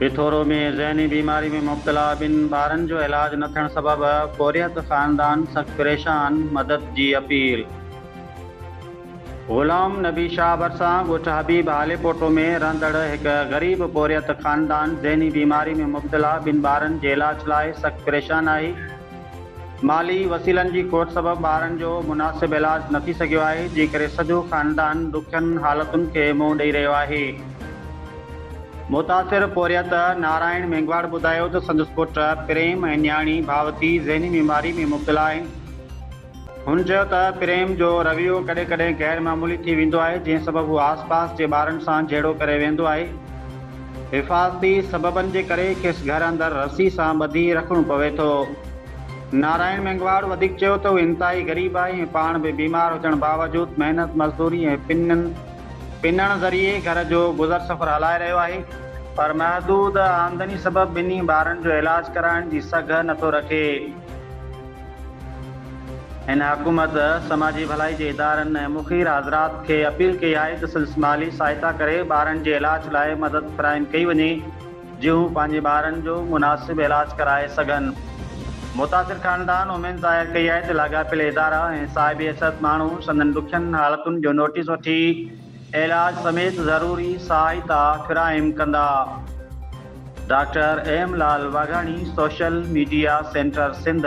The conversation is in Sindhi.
پٿورو ۾ ذهني بيماري ۾ مبتلا ٻن ٻارن جو علاج نه ٿيڻ سبب پورهيت خاندان سخت پريشان، مدد جي اپيل. غلام نبي شاهه ڀرسان ڳوٺ حبيب هاليپوٽو ۾ رهندڙ هڪ غريب پورهيت خاندان ذهني بيماري ۾ مبتلا ٻن ٻارن جي علاج لاء سخت پريشان آهي، مالي وسيلن جي کوٽ سبب ٻارن جو مناسب علاج نه ٿي سگهيو آهي، جنهن ڪري سڄو خاندان ڏکين حالتن کي منهن ڏئي رهيو آهي. متاثر پورهيت نارائڻ مينگهواڙ ٻڌايو ته سندس پٽ پريم ۽ نياڻي ڀاوتي ذهني بيماري ۾ مبتلا آهن، هن چيو ته پريم جو رويو ڪڏهن ڪڏهن غير معمولي ٿي ويندو آهي جنهن سبب هو آس پاس جي ٻارن سان جهيڙو ڪري ويهندو آهي. حفاظتي سببن جي ڪري کيس گهر اندر رسي سان ٻڌي رکڻو پوي ٿو. نارائڻ مينگهواڙ وڌيڪ چيو ته هو انتهائي غريب آهي ۽ پاڻ به بيمار هجڻ باوجود محنت مزدوري ۽ پنن پنڻ ذريعي گهر جو گذر سفر هلائي رهيو آهي، پر محدود آمدني سبب ٻنهي ٻارن جو علاج ڪرائڻ جي سگهه نٿو رکي. هن حڪومت، سماجي ڀلائي جي ادارن ۽ مخير حضرات کي اپيل ڪئي آهي ته سندس مالي سهائتا ڪري ٻارن جي علاج لاء مدد فراهم ڪئي وڃي جيئن هو پنهنجي ٻارن جو مناسب علاج ڪرائي سگهن. متاثر خاندان اميد ظاهر ڪئي آهي ته لاڳاپيل ادارا ۽ صاحب حيثيت ماڻهو سندن ڏکين حالتن جو نوٽيس وٺي، علاج سميت ضروري سهائتا فراهم ڪندا، doctor M Lal Waghani social media centre Sindh.